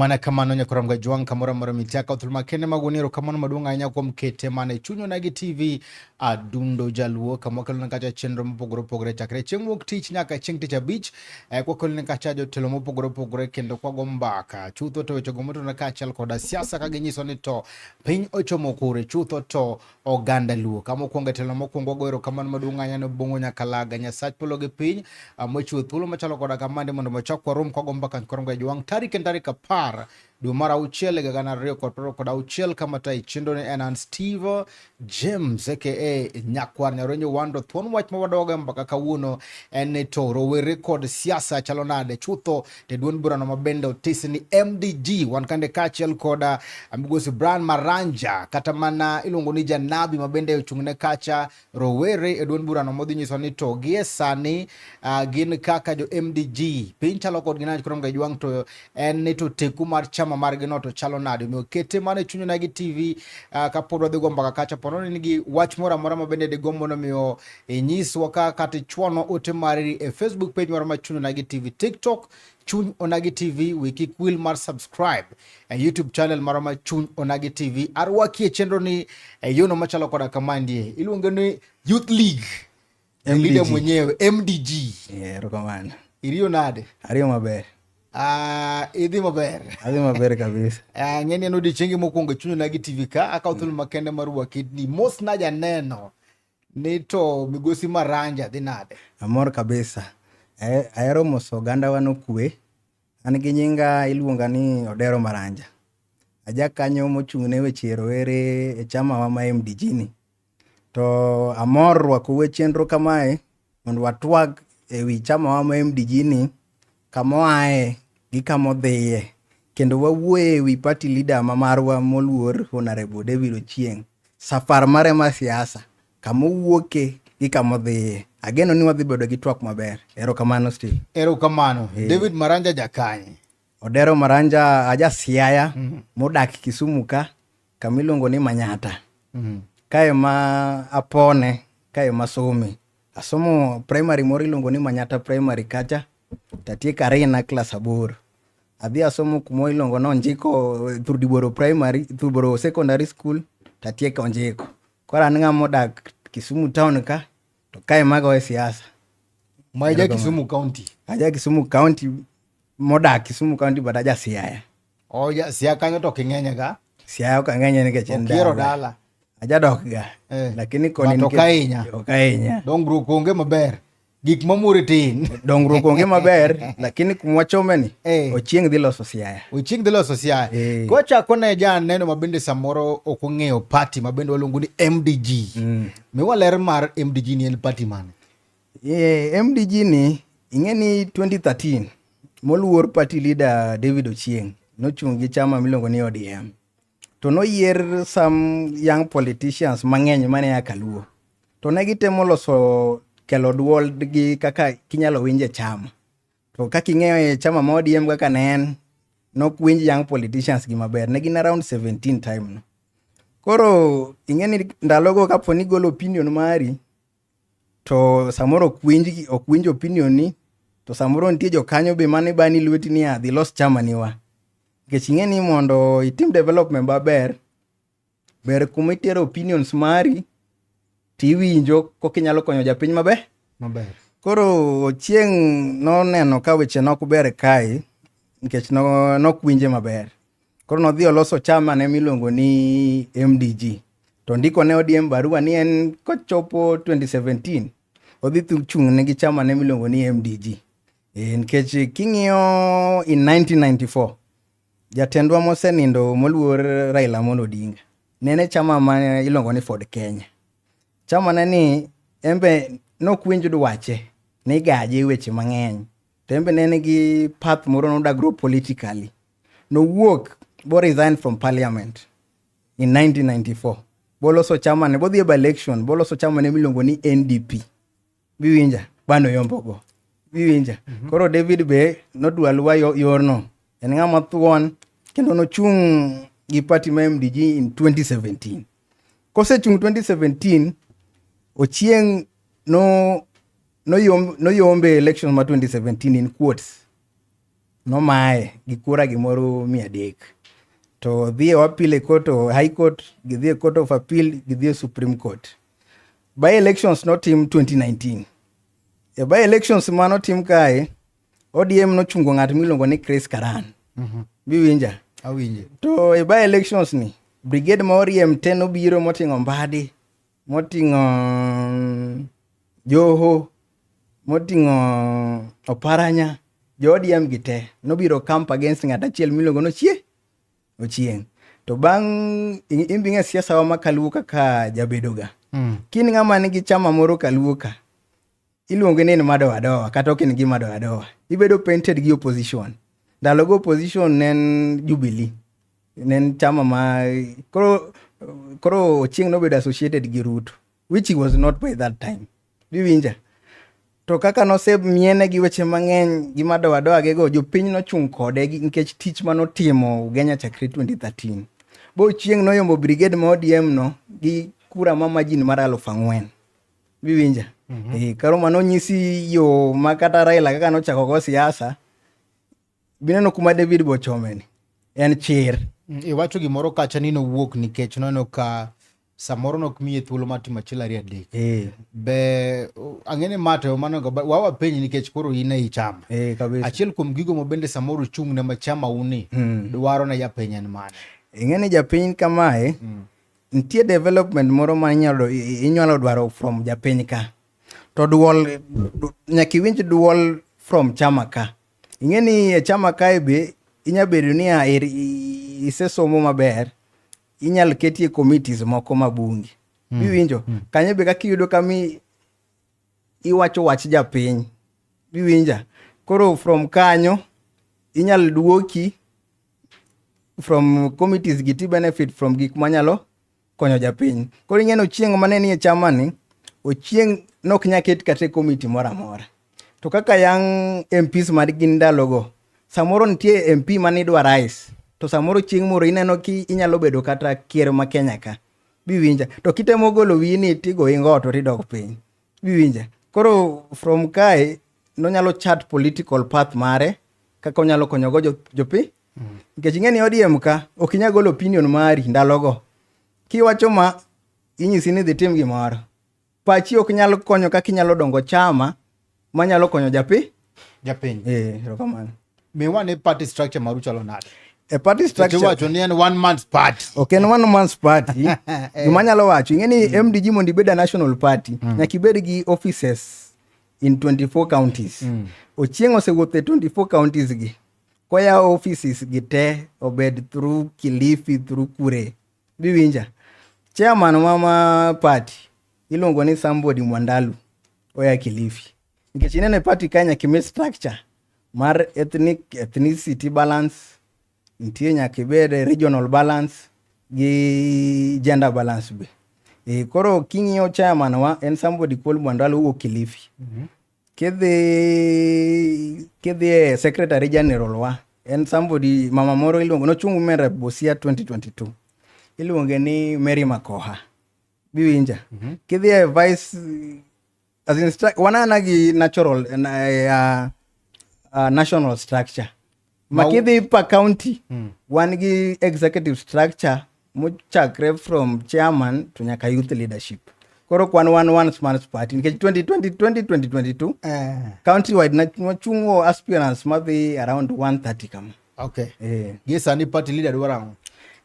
mana kamano nyakoram ga jwang kamora mora mitia ka thulma kene magonero kamano maduong anya kuom kete mane chunyo nagi tv adundo jaluo kamokelo ne kacha chenro mopogore opogore chakre chieng' wuok tich nyaka chieng' tich abich eh, kwakelo ne kacha jotelo mopogore opogore kendo kwago mbaka chutho to wechego motona kaachiel koda siasa ka ginyiso ni to piny ochomo kure chutho to oganda luo kama okwongo e telo mokwongo wago erokamano maduong' ahinya ne bongo nyaka laga nyasach polo gi piny ah, mochiwo thuolo machalo koda kamande mondo mochok warom kwago mbaka nkorongo e jwang' tarik en tarik apar dwe mar auchiel higa gana ariyo kod piero kod auchiel kama ta ichendo ni en an steve james aka nyakwar nyaronyo wando thuon wach ma wadogo e mbaka kawuono en ni to rowere kod siasa chalo nade chutho e duond burano ma bende otis ni MDG wan kande kaachiel koda uh, migosi Brian Maranja kata mana iluongo ni Janabi ma bende ochung'ne kacha rowere e duond burano modhi nyiso ni to gie sani uh, gin kaka jo MDG piny chalo kodgi nade koro mga jwang' to en ni to teku mar chama margi no to chalo nade omiyo kete mana e chuny nagi TV uh, kapod wadhi go mbaka kacha pono ni nigi wach moro amora ma bende digombo nomiyo inyiswa ka kata ichwano ote mari e Facebook page mar Machuny Onagi TV, TikTok Chuny Onagi TV, we kik wil mar subscribe e YouTube channel mar Machuny Onagi TV. Arwaki e chenro ni e yono machalo koda kama ndie. Iluonge ni Youth League. MDG. Leader mwenyewe MDG. Yeah, erokamano. Iriyo nade? Ariyo maber. Uh, idhi maber adhi maber kabisa uh, ah, ng'eni en odiechiengi mokwongo e chuny onagi tv ka akawo thuolo makende mar wakidni mos najaneno Ni to migosi Maranja dhi nade? Amor kabisa. Eh, ahero moso oganda wa nokwe. An gi nyinga iluonga ni Odero Maranja. Aja kanyo mochung' ne weche rowere e chama wa ma MDG ni. To amor rwako we chenro kamae mondo watwag e wi chamawa ma MDG ni kama oaye gi kama odhiye kendo wawuoye e wi party leader ma marwa moluor Honorable David Ochieng safar mare mar siasa kama owuoke gi kama odhiye ageno ni wadhi bedo gi twak maber erokamano Steve erokamano David Maranja Jakanyi Odero Maranja aja Siaya mm -hmm. modak Kisumu ka kama iluongo ni Manyata mm -hmm. kae ma apone kae ma somi asomo primary moro iluongo ni Manyata primary kacha tatieko arina klas aboro adhi asomo kumo iluongo ni Onjiko Thurdiboro primary Thurdiboro secondary school tatieko Onjiko koro an ng'ama odak Kisumu town ka To kae mago we siasa. Ma ja Kisumu County. Aja Kisumu County modak Kisumu County but aja Siaya. Oh, ja Siaya kanyo to king'enye ga. Siaya ok ang'enye nikech en dala. Okiero dala. Aja dok ga. Eh. Lakini koni nikech. Okainya. Okainya. Dongruok onge maber. Gik mamuri tin. Dongruok onge maber lakini kumwachome ni eh. ochieng dhi loso Siaya. Ochieng dhi loso Siaya. Eh. Kwa chako ne ja neno mabende samoro ok ong'eyo party mabende waluongo ni MDG. Mm. Miwa ler mar MDG ni en party mane? Yeah, MDG ni ing'e ni 2013 moluor party leader David Ochieng nochung' gi chama miluongo ni ODM to noyier some young politicians mang'eny mane ya Kaluo to ne gitemo loso kelo dwol gi kaka kinyalo winje chama To kaka ing'eyo e chama ma ODM kaka ne en, nok winj young politicians gi maber. Ne gin around 17 time no. Koro ing'e ni ndalogo kapo ni igolo opinion mari, to samoro ok winj, ok winj opinion ni, to samoro nitie jokanyo be mane bani lweti ni adhi los chama ni wa. Nikech ing'e ni mondo itim development maber, Ber kuma itero opinions mari tiwinjo koka inyalo konyo japiny maber. Maber. Koro Ochieng' noneno ka weche nok ber kae nikech nok winje maber. Koro nodhi oloso chama ne miluongo ni MDG. To ndiko ne ODM barua ni en kochopo 2017 odhi chung' ne gi chama ne miluongo ni MDG. E, nikech king'iyo in 1994 Jatendwa mosenindo moluor Raila Amolo Odinga ne en e chama ma iluongo ni Ford Kenya. Chama ne ni en be nok winj dwache ni gaje e weche mang'eny to en be ne en gi path moro noda grow politically. Nowuok bo resign from parliament in 1994 boloso chama ne bodhi e by election boloso chama ne miluongo ni NDP. biwinja bano yombogo biwinja mm -hmm. koro david be nodwa luwa yorno en ng'ama thuon kendo nochung' gi party ma mdg in 2017 kosechung' 2017 ochieng' no noyombe no no election ma 2017 in quotes nomaye gi kura gimoro mia adek to dhi e appeal e court o high court gidhi e court of appeal gidhi e supreme court By elections notim 2019. E by elections ma notim kae, ODM nochungo ng'at miluongo ni Chris Karan. Mm -hmm. Biwinja? Awinje. To e by elections ni, brigade ma oriem te nobiro moting'o Mbadi, moting'o mm, Joho, moting'o Oparanya, jo ODM gi te nobiro camp against ng'at achiel miluongo nochie Ochieng. To bang' in bing'e siasa wa ma kaluo kaka jabedo ga. Mm. Kin ng'ama nigi chama moro kaluo ka. Iluonge ni mado adowa kata ok in gi mado adowa. Ibedo painted gi opposition. Ndalo go opposition ne en Jubilee. Ne en chama ma koro koro Ochieng nobedo associated gi Ruto which he was not by that time. biwinja to kaka nosemiene gi weche mang'eny gi madowadoagego jopiny nochung' kode nikech tich ma notimo ugenya chakre 2013 bo chieng' noyombo brigade ma odm no gi kura ma majin mar aluf ang'wen biwinja mm -hmm. e, eh, karo ma nonyisi yo ma kata raila kaka nochako go siasa bineno kuma david bochomeni en chir mm, iwacho gimoro kacha ni nowuok nikech noneno ka samoro nok miye thuolo mar timo achiel ariyo adek eh. be ang'e ni ma to manogo wawa penyi nikech koro in e ichama eh, achiel kuom gigo ma bende samoro chung' ne machama uni hmm. dwaro ne japiny en mane ing'e ni japiny kamae hmm. nitie development moro ma inyalo dwaro from japiny ka to duol nyaka iwinj duol from chama ka ing'e ni e chama kae be inya bedo niya isesomo maber inyal ketie committees moko ma bunge mm. biwinjo mm. kanyo be kaka iyudo kami iwacho wach japiny biwinja koro from kanyo inyal duoki from committees gi ti benefit from gik manyalo konyo japiny koro ing'eno chieng' mane nie chamani ochieng' nok nyaket kata e komiti moro amora To kaka yang' MPs ma gin ndalogo, samoro nitie MP ma nidwa rais, to samoro chieng' moro ineno ki inyalo bedo kata ker ma Kenya ka. Biwinja. To kitemo golo wiyi ni tigo ingo to tidok piny. Biwinja. Koro from kae nonyalo chat political path mare kaka onyalo konyogo jopi. Nikech ing'e ni ODM ka ok inyal golo opinion mari ndalogo. Kiwacho ma inyisi ni dhi tim gimoro. pachi ok nyal konyo kaka inyalo dongo chama manyalo konyo japi japiny eh, erokamano miwane party structure maru chalo nade e party structure wacho ni en one man's party ok en one man's party eh. gima anyalo wacho ing'e ni mm. mdg mondo ibed a national party mm. nyaka ibed gi offices in 24 counties mm. ochieng osewuotho e 24 counties gi koyawo offices gi te obed through kilifi through kure Biwinja. Chairman wa ma party iluongo ni somebody Mwandalu oya Kilifi. Nikech ineno e party ka nyaka imi structure mar ethnic ethnicity balance, nitie nyaka ibed regional balance gi gender balance be. E, koro king'iyo chairman wa en somebody called Mwandalu owuok Kilifi. Mm -hmm. Kidhi kidhi e Secretary General wa en somebody mama moro iluongo nochung' mera Busia 2022 iluonge ni Mary Makoha biwinja mm -hmm. kidhi e vice as in wanana gi natural uh, uh, national structure makidhi pa county mm. wan gi executive structure mochakre from chairman to nyaka youth leadership koro kwan wan one smart party nikech 2022 eh. county wide wachungo aspirants madhi around 130 kama okay. eh. gi sani party leader dwaro ang'o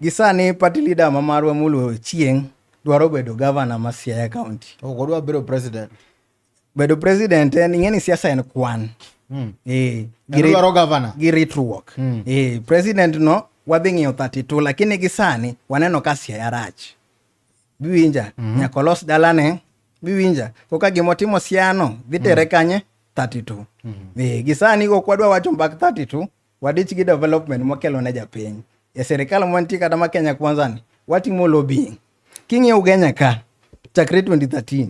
gi sani party leader ma marwa moluo chieng' dwaro bedo governor ma siaya county ok odwa bedo president bedo president en ing'e ni siasa en kwan mm. e, gi ritruok mm. e, president no wadhi ng'iyo 32 lakini gi sani waneno ka siaya rach biwinja mm -hmm. nyaka olos dalane biwinja koka gima otimo siano dhi tere mm. kanye 32 mm -hmm. e, gi sani kok wadwa wacho mbak 32 wadich gi development mokelo ne japiny e serikal mwantie kata ma kenya kwanzani watimo lobbying king'iyo ugenya ka chakre 2013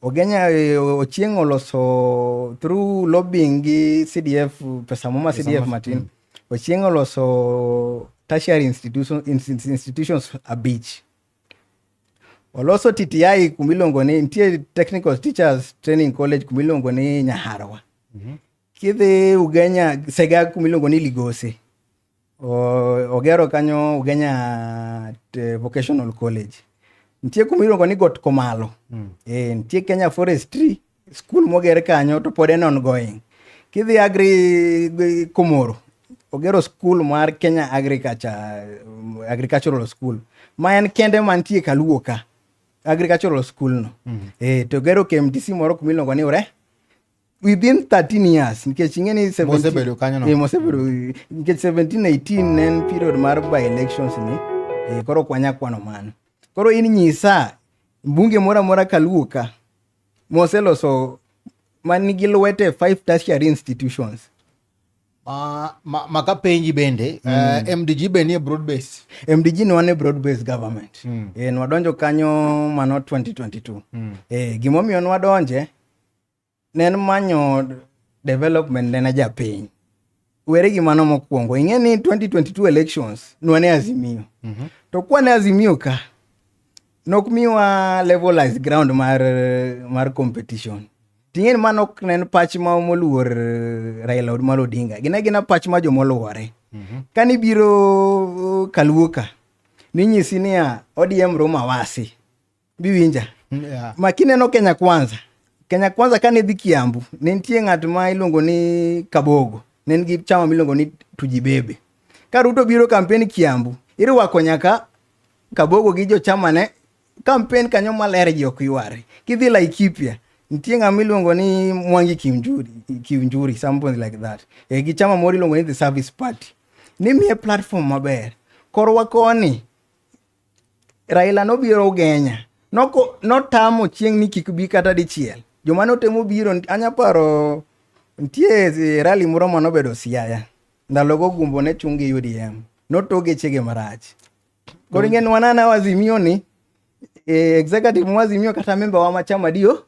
Ogenya eh, Ochieng oloso through lobbying gi CDF pesa moma CDF matin. Mm. Ochieng oloso tertiary institution, institutions abich. Oloso TTI kumiluongo ni nitie Technical Teachers Training College kumiluongo ni Nyaharwa. Mm -hmm. Kidhi Ugenya Sega kumiluongo ni Ligose. Ogero kanyo Ugenya eh, Vocational College. Nitie kuma iluongo ni Got Komalo. Mm. E, nitie Kenya Forestry School moger kanyo to pod en ongoing. Kidhi Agri Komoro, ogero school mar Kenya Agriculture, Agricultural School. Ma en kende mantie Kaluo ka. Agricultural School no. Mm. E, to ogero KMTC moro kuma iluongo ni Ure. within 13 years nikech ing'e ni mosebedo kanyo no eh, mosebedo nikech 17 18 en period mar by elections ni eh, koro kwanya kwano mano koro in nyisa mbunge moro amora kaluo ka moseloso man nigi lwete five tertiary institutions Uh, ma, ma ka penji bende mm. uh, eh, mdg be nie broad base mdg ne wane broad base government mm. e, nwadonjo kanyo mano 2022 mm. e, gimomiyo nwadonje ne en manyo development ne na japiny were gi mano mokwongo ing'e ni 2022 elections nwane azimio mm -hmm. to kwane azimio ka nok miwa levelized ground mar mar competition ting'e ni mano ok nen pach ma moluor eh, Raila Amolo Odinga gina gina pach ma jomoluore mm -hmm. kani biro eh, kaluoka ninyisi niya ODM Roma wasi biwinja mm, yeah. ma kineno kenya kwanza kenya kwanza kane dhi kiambu ne nitie ng'at ma iluongo ni kabogo ne en gi chama miluongo ni tujibebe ka ruto biro kampen kiambu irwako nyaka kabogo gi jochamane kampen kanyo maler ji ok yware kidhi laikipia nitie ng'ama iluongo ni mwangi kiunjuri, kiunjuri something like that e, gi chama moro iluongo ni the service party nimiye platform maber korwa koni Raila nobiro ugenya notamo chieng' ni kik bi kata dichiel joma notemo biro anya paro nitie rali moro ma nobedo siaya ndalogo gumbo ne chung' gi udm notoge chege marach koro ing'e ni wanana wazimio ni e, executive mwazimio kata memba wa machama dio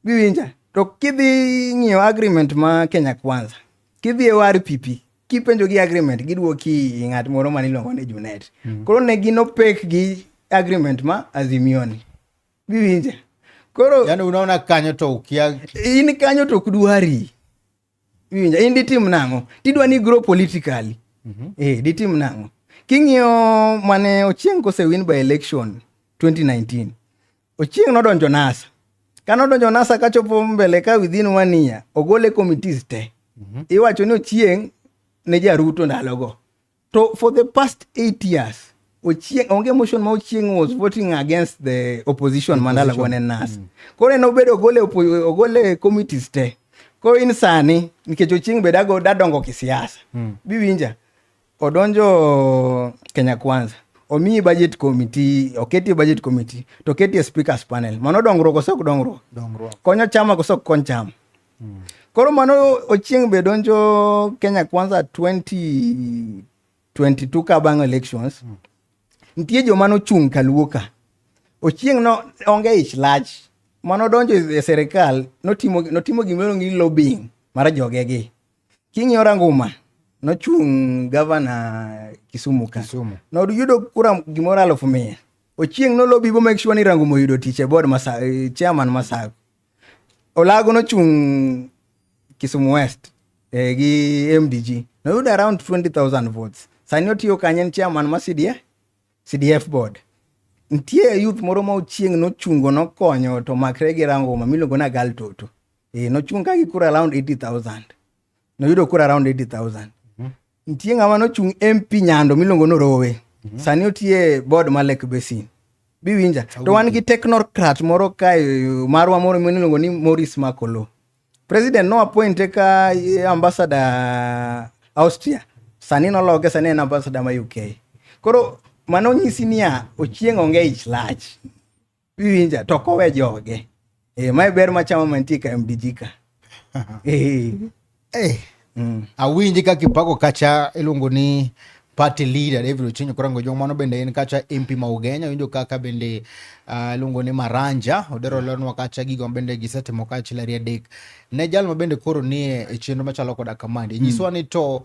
biwinja to kidhi ng'iyo agreement ma kenya kwanza kidhi e war pipi kipenjo gi agreement gidwoki ng'at moro mane iluongo ni junet mm. koro ne gin opek gi agreement ma azimioni biwinje koro yani unaona kanyo to ukia in kanyo to kudwari biwinje in ditim nang'o tidwa ni grow politically mm -hmm. eh ditim nang'o king'iyo mane ochieng' kosewin by election 2019 Ochieng' nodonjo NASA. Ka nodonjo NASA kachopo mbele ka within one year, ogole committees te. Mhm. Iwacho ni Ochieng' ne jaruto ndalogo. To for the past eight years, Ochieng' onge motion ma Ochieng' was voting against the opposition ma ndalogo ne NASA. Mhm. Koro en obedo ogole, oppo- ogole committees te. Koro in sani, nikech Ochieng' be dago- dadongo kisiasa. Mm. Biwinja? Odonjo Kenya Kwanza omiyi budget committee oketi budget committee to oketi e speakers panel mano dongruok kose ok dongruok konyo chama kose ok kony chama hmm. koro mano ochieng' be donjo Kenya Kwanza 2022 ka bang' elections hmm. nitie joma nochung' kaluo ka ochieng' no onge ich lach mano donjo e serikal notimo, notimo gimoro ni lobbying mar jogegi King'iyo ranguma nochung' gavana Kisumu ka. Kisumu. Noyudo kura gimoro alufu mia. Ochieng' nolobi bo make sure ni ranguma oyudo tich e board masa eh, chairman masago. Olago nochung' Kisumu West eh, gi MDG. Noyudo around 20,000 votes. Sani otiyo kanye en chairman ma CDF, CDF board. Nitie youth moro ma ochieng' nochungo nokonyo to makre gi ranguma miluongo na gal toto. e, nochung' ka gi kura around 80000 noyudo kura around 80000 mhm. nitie ng'ama nochung' mp nyando miluongo norowe mhm. sani otie board ma lake basin biwinja to wan gi technocrat moro kae marwa moro miluongo ni moris makolo president no appointe ka eh, ambassador austria sani noloke sani en ambassador ma uk koro mano nyisi niya ochieng' onge ich lach Iwinja to ok owe joge. Eh, mae ber machamo mantie ka MDG ka. Eh. Eh. Mm. Awinji kaka ipako kacha iluongo ni party leader David Ochenyo Korango Jong mano bende en kacha MP ma Ugenya winjo kaka bende uh, iluongo ni Maranja odero lenwa kacha gigo bende gisetimo kachiel ariyo adek ne jal ma bende koro nie e chenro machalo koda kamandi mm. nyiswa ni to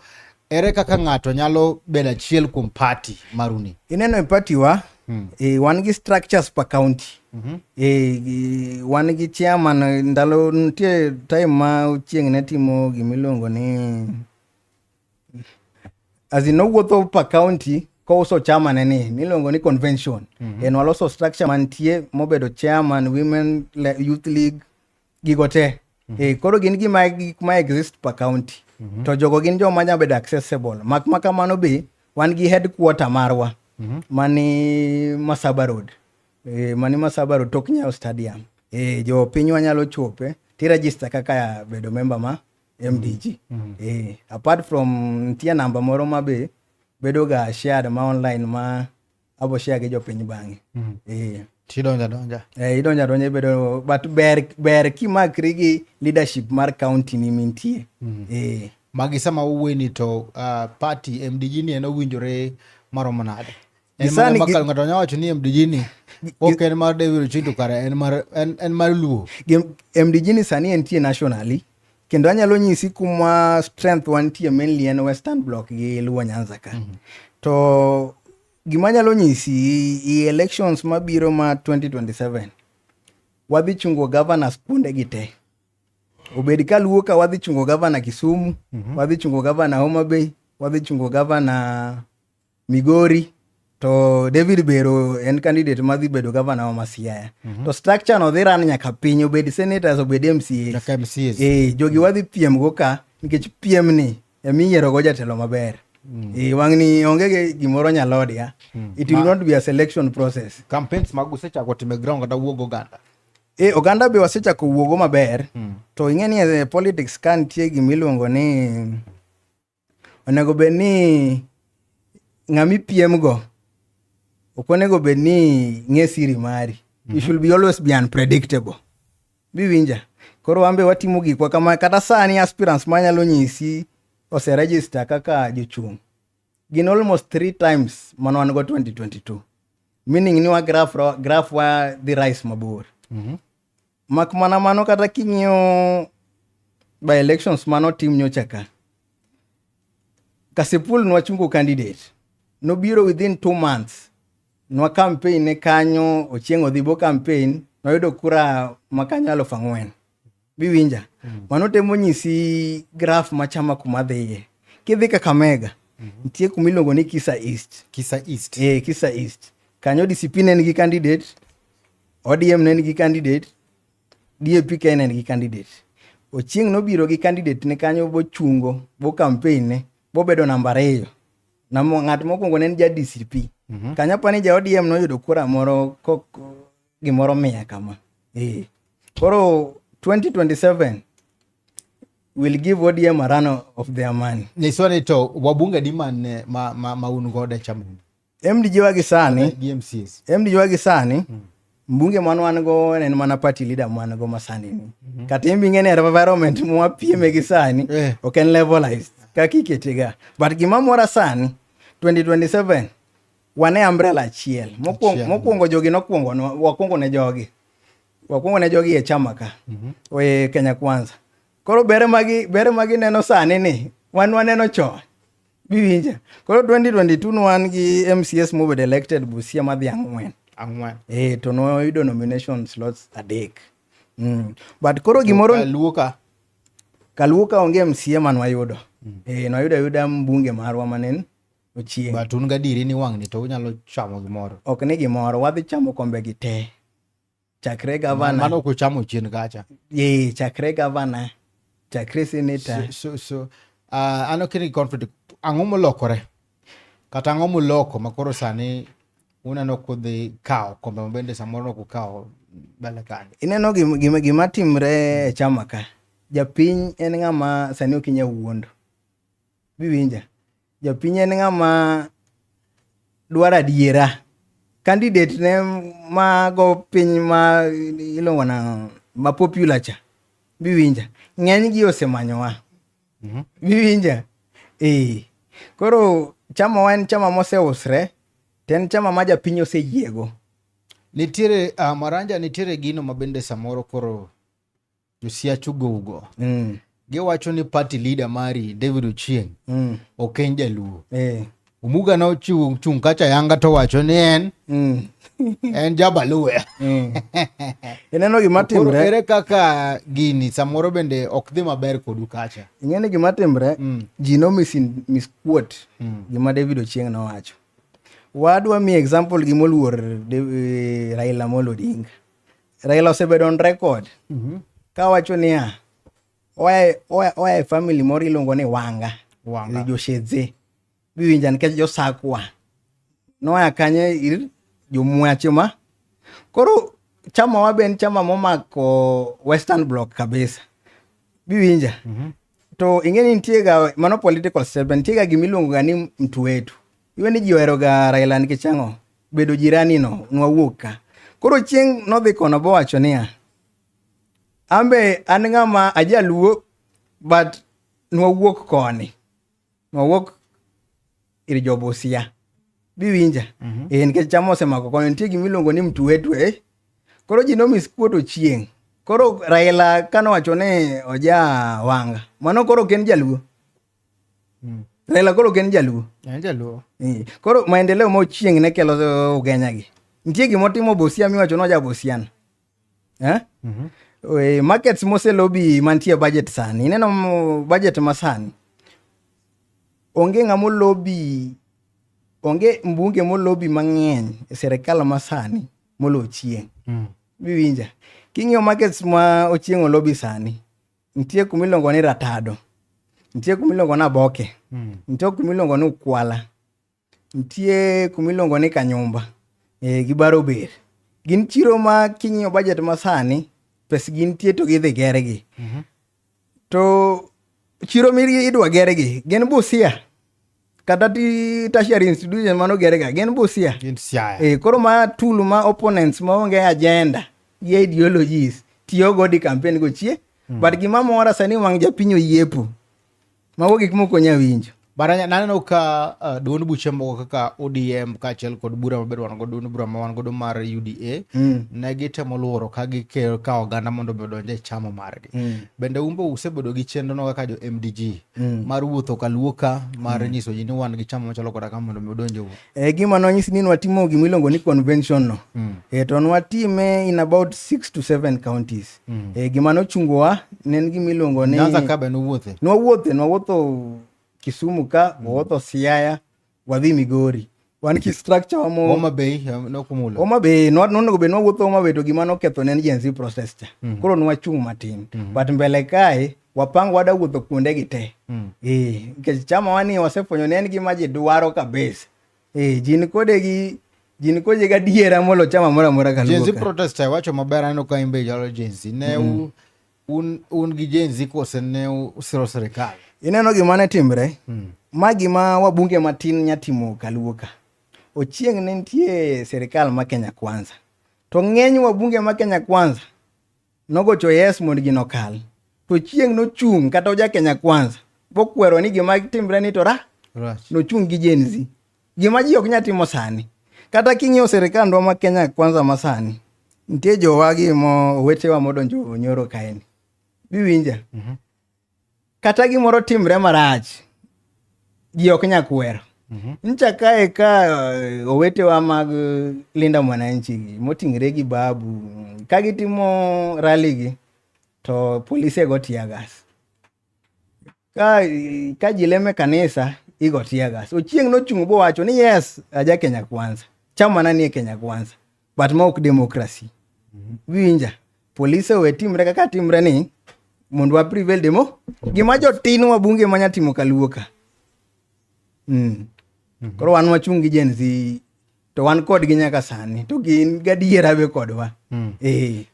Ere kaka ng'ato nyalo bedo achiel kuom party maruni? Ineno e party wa hmm. e, wan gi structures per county. Mm -hmm. e, wan gi chairman ndalo nitie time ma chieng' ne timo gima iluongo ni as in owuotho per county kouso chama ne ni miluongo ni convention mm -hmm. en waloso structure mantie mobedo chairman women youth league gigo te mm -hmm. e, koro gin gima gik ma exist per county mm -hmm. to jogo gin joma nyalo bedo accessible mak ma kamano be wan gi headquarter marwa mm -hmm. mani Masaba Road e, mani Masaba Road tok Nyayo Stadium e, jo pinywa nyalo chope ti register kaka bedo member ma MDG mm -hmm. e, apart from nitie namba moro ma be bedoga shared ma online ma abo share gi jopiny bang'e mm. eh. tidonja donja eh, idonja donja ibedo but ber ber kimakri gi leadership mar county ni mintie mm. eh. magi sama uweni to uh, party mdg ni en owinjore maromo nade Gisani makal ng'ato nya wacho ni MDG ni ok en mar David Ochindo kare en mar en, en mar Luo. MDG ni sani entie nationally kendo anyalo nyisi kuma strength wantie mainly en western block gi luo nyanza ka mm -hmm. to gima anyalo nyisi i elections mabiro ma 2027 wadhi chungo governors kuonde gi te obed ka luo ka wadhi chungo governor kisumu mm -hmm. wadhi chungo governor homa bay wadhi chungo governor Migori to David Bero en candidate madhi bedo gavana wa Masiaya mm -hmm. to structure no dhi ran nyaka piny obed senators obed MCAs nyaka MCAs e, eh, jogi mhm. wadhi piem go ka nikech piem ni emi yiero go jatelo maber Mm. E, wang'ni onge ge gimoro nyalod ya mm. it will Ma, not be a selection process campaigns mag usechako time ground kata wuog oganda e oganda be wasechako wuogo maber mm. to ing'e ni e politics ka nitie gimiluongo ni onego bed ni ng'ama ipiemgo ok onego bed ni ng'e siri mari mm -hmm. you should be always be unpredictable biwinja koro wambe watimo gikwa kama kata sani aspirants manyalo nyisi oseregister kaka jochung' gin almost three times mano wan go 2022 meaning ni wa graph, graph wa dhi rise mabor mm -hmm. Mak mana mano kata king'iyo by elections mano tim nyocha ka. Kasipul nwachungo candidate. Nobiro within two months. Nwa campaign ne kanyo ochieng' odhibo campaign noyudo kura makanyo alufu ang'wen. Biwinja. Mm. Mano temo nyisi graph machama kuma dhiye. Kidhi Kakamega. Mm -hmm. Nitie kuma iluongo ni Kisa East. Kisa East. Eh, Kisa East. Kanyo disipin en gi candidate ODM ne nigi candidate, DAP ka ne nigi candidate. Ochieng' nobiro gi candidate ne kanyo bochungo, bo campaign ne, bobedo namba ariyo. Na ng'at mokwongo ne en ja DCP. Mm -hmm. Kanyo pa ni ja ODM noyudo kura moro kok gimoro mia kama. Eh. Koro 2027 will give ODM a run of their money. Niswani to wabunge di man ma, ma, ma un godo e chama. MDJ wa gisani GMCS. MDJ wa gisani mm. mbunge mwan wan go en mana party leader mwan go masani ni mm -hmm. kata imbi ng'e ni environment mwa pieme gi sani eh. ok en levelized kaka iketega but gima mora sani 2027 wane umbrella achiel mokwongo mokwongo jogi nokwongo wakwongo ne jogi wakwongo ne jogi e chama ka mm -hmm. oye Kenya Kwanza koro bere magi bere magi neno sani ni wan waneno chon Biwinja. Koro 2022 ne wan gi MCS mobed elected Busia madhi ang'wen. Ang'wen. Eh, to noyudo nomination slots adek. Mm. But koro gimoro... Kaluo ka? Kaluo ka onge MCA man wayudo. Mm. Eh, noyudo ayuda mbunge marwa manen ochieng'. But un gadieri ni wang'ni to unyalo chamo gimoro. Ok ni gimoro, wadhi chamo kombe gi te. chakre gavana mano kuchamo chien kacha ye chakre gavana chakre senator so, so, so uh, ano kini conflict ang'o molokore kata ang'o moloko makoro sani uneno kudhi kawo kombe mabende samoro nok ukawo bele kanyo ineno gima, gima, gima timre e chama ka japiny en ng'ama sani ok inya wuondo biwinja Japiny en ng'ama dwaro adiera. Candidate ne mago piny ma iluongo na ma popular cha biwinja ng'eny gi osemanyowa mhm. biwinja ee koro chama wa en chama moseusre to en chama ma japiny oseyiego nitiere uh, maranja nitiere gino ma bende samoro koro Josiach ugougo. Mm. Giwacho ni party leader mari David Ochieng mm. ok en jaluo. Eh. Omuga ne ochiwo chung' kacha yanga to wacho ni en mm. en jabaluya. Mm. Ineno gima timre. Ere kaka gini samoro bende ok dhi maber kodu kacha. Ing'eni gima timre mm. ji no misquote mm. gima David Ochieng nowacho. Wadwa mi example gimoluor eh, Raila Amolo Odinga. Raila osebedo on record mm -hmm. kawacho niya oa e family moro iluongo ni wanga wanga joshedze biwinja nikech josakwa noa kanye ir jomwache ma koro chama wa ben chama momako western block kabisa biwinja mm -hmm. to ing'e ni nitiega mano political statement nitiega gimiluongo ga ni mtu wetu Iwe ni ji oheroga Raila nikech ang'o? Bedo jirani no, nwawuok ka. Koro chieng' nodhi kono bowacho niya, ambe an ng'ama ajaluo but nwawuok koni. Nwawuok ir jobusia. Biwinja? Mm -hmm. E, nikech chama osemako koni, nitie gima iluongo ni mtuetwe. Eh? Koro ji nomis kuoto chieng'. Koro Raila kanowacho ni oja wanga, mano koro ok en jaluo. Mm. Raila koro ken jaluo. En jaluo. Eh, koro maendeleo ma ochieng ne kelo uh, ugenya gi. Nitie gima otimo Busia miwacho ni oja Busian. Eh? Mm -hmm. We, markets mose lobi mantie budget sani. Ineno budget masani. Onge ngamo lobi onge mbunge molobi mang'eny e serikal masani molo chieng' mm. biwinja king'iyo markets ma ochieng' olobi sani Nitie kuma iluongo ni ratado, nitie kuma iluongo ni aboke, hmm. nitie kuma iluongo ni ukwala, nitie kuma iluongo ni kanyumba e, gi baro ber. Gin chiro ma king'iyo bajet ma sani pes gi nitie to gidhi gergi. Mm -hmm. To chiro mi idwa gergi gin Busia. kata tertiary institution mano gerega gin Busia. Gin Siaya. Eh, koro ma tool ma opponents ma onge agenda gi ideologies tiyo go di campaign go chie. Mm. But gima mora sani wang' japiny oyiepo. Mago gik moko nya winjo. Baranya naneno ka uh, duond buche moko kaka ODM kaachiel kod bura mabedo wan godo duond bura ma wan godo mar UDA mm. ne gitemo luoro ka gikawo oganda mondo mi odonj e chama margi. Mm. Bende umbe usebedo gi chenrono kaka jo MDG? Mm. mar wuotho ka luoka mar mm. nyiso ji ni wan gi chama machalo koda ka mondo mi udonje wuo e gima nonyis ni nwatimo gima iluongo ni convention no mm. e to nwatime in about six to seven counties mm. e gima nochungowa ne en gima iluongo ni nyanza kabe nowuothe nwawuothe nwawuotho kisumu ka mm. wawuotho siaya wadhi migori wan ki structure wamo Homa Bay no kumulo Homa Bay no no go be no wuotho Homa Bay to gima noketho ne Gen Z process cha mm -hmm. koro nwachung matin mm -hmm. but mbele kae wapang wada wuotho kuonde gi te mm. eh nikech chama wani wasefwenyo ne en gima ji dwaro kabisa eh jin kode gi jin koje ga diera molo chama mora mora kaluka Gen Z protest wacho maber aneno ka imbe jalo Gen Z ne mm. un, un gi Gen Z kose ne usiro sirikal? Ineno gima ne timre? Hmm. Ma gima wabunge matin nyatimo kaluo ka. Ochieng' ne nitie sirikal ma Kenya Kwanza. To ng'eny wabunge ma Kenya Kwanza nogocho yes mondo gino kal. To chieng' nochung' kata oja Kenya Kwanza. Bokwero ni gima timre ni to ra. Right. Nochung' gi Gen Z. Gima ji ok nya timo sani. Kata king'iyo sirikandwa ma Kenya kwanza ma sani, nitie jowagi mo owetewa modonjo nyoro kaeni. Biwinja? Mm -hmm. Kata gimoro timre marach, ji ok nya kwero. Mm -hmm. Ncha kae ka eh, owetewa mag eh, Linda Mwananchi moting're gi Babu, ka gitimo rally gi, to polise go tiagas. ka, ka ji leme kanisa igo tiagas ochieng nochung' bowacho ni yes aja kenya kwanza chamana nie kenya kwanza but ma ok demokrasi mhm. winja polise owe timre kaka timre ni mondo wa prevail demo gima jotin wa bunge manya timo kaluoka mm. mm -hmm. koro wan wachung' gi jenzi to wan kodgi nyaka sani to gin gadiera be kodwa mm. eh.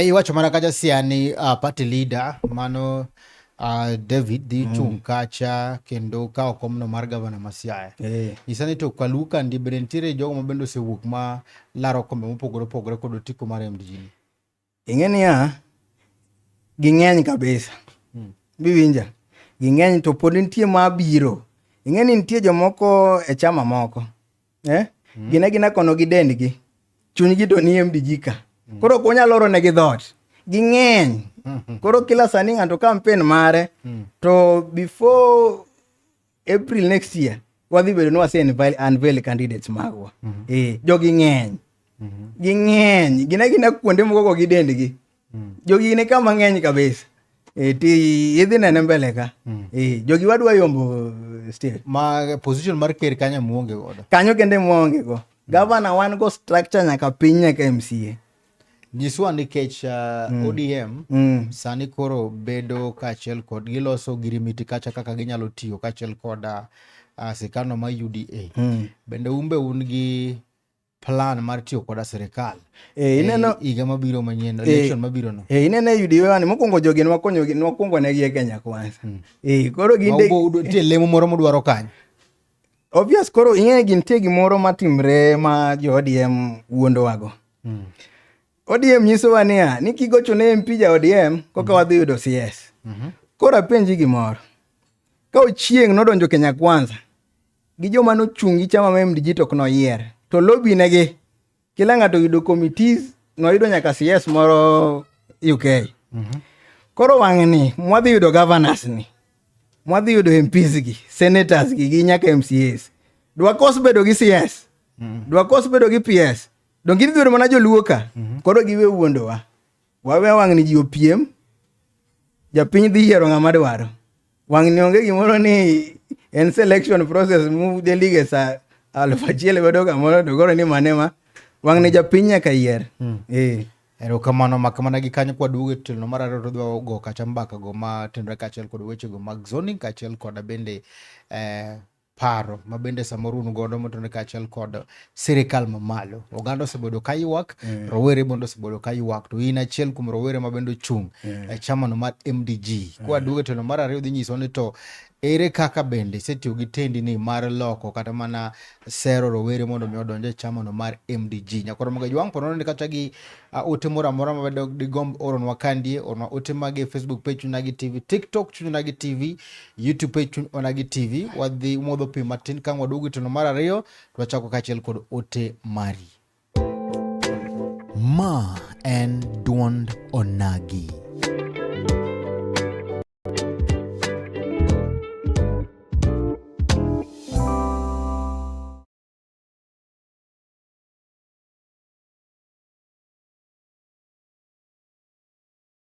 iwacho mana kacha siani uh, party leader mano uh, david dhi mm. chung kacha kendo kawo komno mar gavana masiaya hey. Eh. nyisa ni to kaluw kandi bende nitiere jogo ma bende osewuok ma laro kombe mopogore opogore kod otiko mar mdg Ing'e niya, ging'eny kabisa. Hmm. Biwinja? Ging'eny to pod nitie ma biro. Ing'e ni nitie jomoko e chama moko. Eh? Hmm. Gina gina kono gi dendgi. Chunygi to nie mbijika. Hmm. Koro ok wanyal oro negi dhoot. Ging'eny. Hmm. Koro kila sani ng'ato kampen mare. Hmm. To before April next year wadhi bedo ni wase unveil candidates magwa. Mm -hmm. Eh, jogi ng'eny. Mm -hmm. Ging'eny. Gina gina kuonde moko go gi dendgi. Mm -hmm. Jogi ne kama ng'eny kabisa. Eh, ti idhi nene mbele ka. Mm -hmm. Eh, jogi wadwa yombo eh, state. Ma position mar ker kanyo muonge godo. Kanyo kende muonge go. Mm -hmm. Gavana wan go structure nyaka piny nyaka MCA. Nyiswa nikech uh, mm. ODM mm. sani koro bedo kaachiel kod giloso girimiti kacha kaka ginyalo tiyo kaachiel kod uh, uh, sikano ma UDA. Mm. Bende umbe un gi plan mar tiyo koda sirikal eh, eh, ineno higa mabiro manyien eh, election mabiro no eh ineno yudiwe wani mokwongo jogi nwakonyo nwakwongo negi e Kenya kwanza hmm. eh koro ginde ubo tie lemo moro modwaro kanyo Obvious koro ing'e gintie gimoro matimre ma jo ODM wuondowago. Mm. ODM nyisowa niya ni kigocho ne MP ja ODM koka mm. wadhi yudo CS. Mm -hmm. Koro apenji gimoro. Ka ochieng' nodonjo Kenya Kwanza gi joma nochung' gi chama ma MDG to ok noyier to lobinegi kila ng'ato yudo committees noyudo nyaka CS moro UK. Mm -hmm. Koro wang'e ni mwadhi yudo governors ni mwadhi yudo MPs gi senators gi gi nyaka MCAs dwakos bedo gi CS mm -hmm. dwakos bedo gi PS donge idhi bedo mana joluo ka mm -hmm. koro giwe wuondowa wawe wang'ni ji opiem japiny dhi yiero ng'ama dwaro Wang'ni onge gimoro ni en selection process mu delige sa aluf achiel godo kamoro to koro ni mane ma wang'ni japiny nyaka yier. Hmm. Eh. Erokamano mak mana gi kanyo kwa duogo e telno mar ariyo to dwa go kata mbaka go ma tenre kaachiel kod weche go mag zoning kaachiel kod bende eh, paro ma bende samoro un godo motone kaachiel kod sirikal mamalo. Oganda osebedo ka ywak, mm. rowere bende osebedo ka ywak, to in achiel kuom rowere ma bende ochung' mm. e chamano mar MDG. Mm. Kwa duogo e telo mar ariyo dhi nyiso ni to ere kaka bende isetiyo gi tendi ni mar loko kata mana sero rowere mondo mi odonj e chamano mar MDG. Nyakoro mga jwang' pono ni kata gi uh, ote moro amora ma bende digomb oronwa kandie, oronwa ote mage Facebook page chunagi TV, TikTok chunagi TV, YouTube page chuny ona gi TV wadhi modho pi matin ka waduogo e teno mar ariyo to wachako kaachiel kod ote mari. Ma en duond onagi.